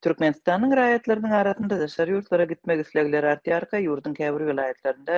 Türkmenistanyň raýatlarynyň arasynda daşary ýurtlara gitmek islegleri artýarka, ýurduň käbir welaýatlarynda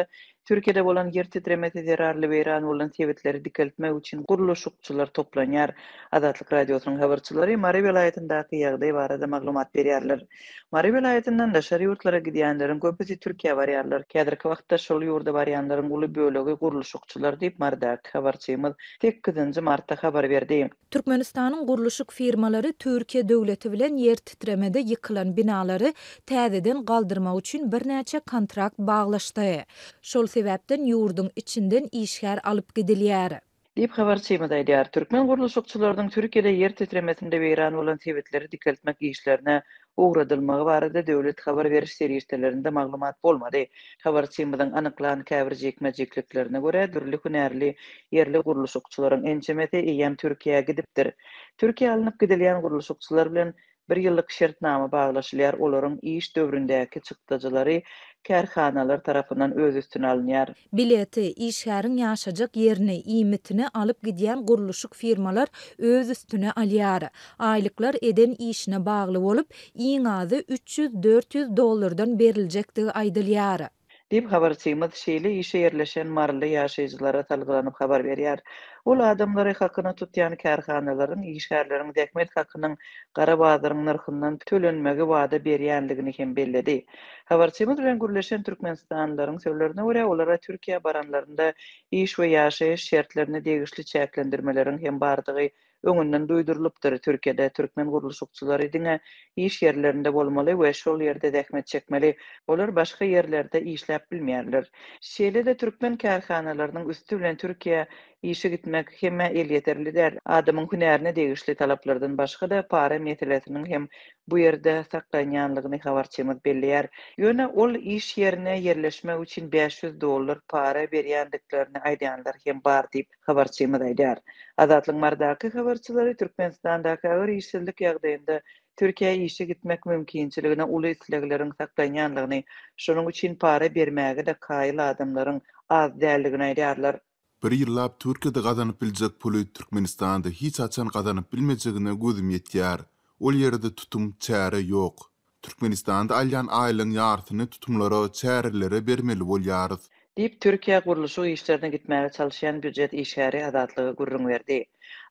Türkiýede bolan ýer titremesi zerarly weýran bolan sebitleri dikeltmek üçin gurluşykçylar toplanýar. Azatlyk Radiosynyň habarçylary Mary welaýatyndaky ýagdaý barada maglumat berýärler. Mary welaýatyndan daşary ýurtlara gidýänleriň köpüsi Türkiýä barýarlar. Häzirki wagtda şol ýurda barýanlaryň uly bölegi gurluşykçylar diýip, marydaky habarçymyz sekizinji martda habar berdi. Türkmenistanyň gurluşyk firmalary Türkiýe döwleti bilen ýertitremede ýykylan binalary täzeden galdyrmak üçin birnäçe kontrakt baglaşdy. Şol sebäpden ýurduň içinden işgär alyp gidilýär. Diýip, habarçymyz aýdýar. Türkmen gurluşykçylarynyň Türkiýede ýertitremesinde weýran bolan sebitleri dikeltmek işlerine ugradylmagy barada döwlet habar beriş serişdelerinde maglumat bolmady. Habarçymyzyň anyklan käbir jikme-jikliklerine görä, dürli hünärli ýerli gurluşykçylaryň ençemesi eýýäm Türkiýä gidipdir. Türkiýä alnyp gidilýän gurluşykçylar bilen bir ýyllyk şertnama baglaşylýar, olaryň iş döwründäki çykdajylary kärhanalar tarapyndan öz üstüne alynýar. Bileti, işgäriň ýaşajak ýerini, iýmitini alyp gidýän gurluşyk firmalar öz üstüne alýar. Aýlyklar eden işine bagly bolup, iň azy üç ýüz, dört ýüz dollardan beriljekdigi aýdylýar. Diýip, habarçymyz şeýle işe ýerleşen maryly ýaşaýjylara salgylanyp habar berýär. Ol adamlary hakyna tutýan kärhanalaryň işgärleriň zähmet hakynyň gara bazaryň nyrhyndan tölenmegi wada berýändigini hem belledi. Habarçymyz bilen gürleşen türkmenistanlylaryň sözlerine görä, olara Türkiýä baranlarynda iş we ýaşaýyş şertlerine degişli çäklendirmeleriň hem bardygy öňünden duýdurylypdyr. Türkiýede türkmen gurluşykçylary diňe iş ýerlerinde bolmaly we şol ýerde zähmet çekmeli, olar başga ýerlerde işläp bilmeýärler. Şeýle-de türkmen kärhanalarynyň üsti bilen Türkiýä işe gitmek hemmä elýeterli däl. Adamyň hünärine degişli talaplardan başga-da para meselesiniň hem bu ýerde saklanýanlygyny habarçymyz belleýär. Ýöne ol iş ýerine ýerleşmek üçin bäş ýüz dollar para berýändiklerini aýdýanlar hem bar diýip, habarçymyz aýdýar. Azatlyk Mardaky habarçylary Türkmenistandaky agyr işsizlik ýagdaýynda Türkiýä işe gitmek mümkinçiligine uly islegleriň saklanýanlygyny, şonuň üçin para bermäge-de kaýyl adamlaryň az däldigini aýdýarlar. Bir ýyllap Türkiýede gazanyp biljek puly Türkmenistanda hiç haçan gazanyp bilmejegine gözüm ýetýär. Ol ýerde tutum, çäre ýok. Türkmenistanda alýan aýlygyň ýarysyny tutumlara, çärelere bermeli bolýarys. Diýip, Türkiýä gurluşyk işlerine gitmäge çalyşýan býujet işgäri Azatlyga gürrüň berdi.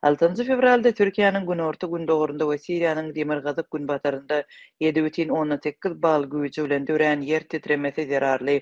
Altynjy fewralda Türkiýäniň günorta-gündogarynda we Siriýanyň demirgazyk-günbatarynda ýedi bütin ondan sekiz bal güýji bilen dörän ýer titremesi zerarly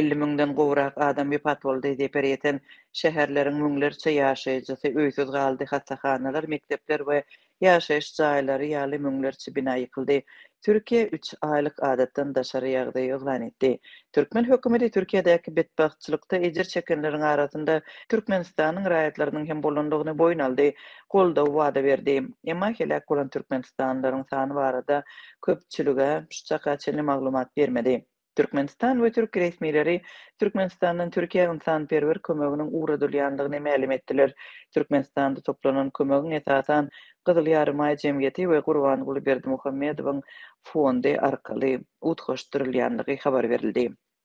elli müňden gowrak adam wepat boldy, zeper ýeten şäherleriň müňlerçe ýaşaýjysy öýsüz galdy, hassahanalar, mekdepler we ýaşaýyş jaýlary ýaly müňlerçe bina ýykyldy, Türkiýe üç aýlyk adatdan daşary ýagdaýy yglan etdi. Türkmen hökümeti Türkiýedäki betbagtçylykda ejir çekenleriň arasynda Türkmenistanyň raýatlarynyň hem bolandygyny boýun aldy, goldaw wada berdi. Emma heläk bolan türkmenistanlylaryň sany barada köpçülige şu çaka çenli maglumat bermedi. Türkmenistan we türki resmileri Türkmenistandan Türkiýä ynsanperwer kömeginiň ugradylýandygyny mälim etdiler. Türkmenistanda toplanan kömegiň esasan Gyzyl Ýarymaý jemgyýeti we Gurbanguly Berdimuhamedowyň fondy arkaly utgaşdyrylýandygy habar berildi.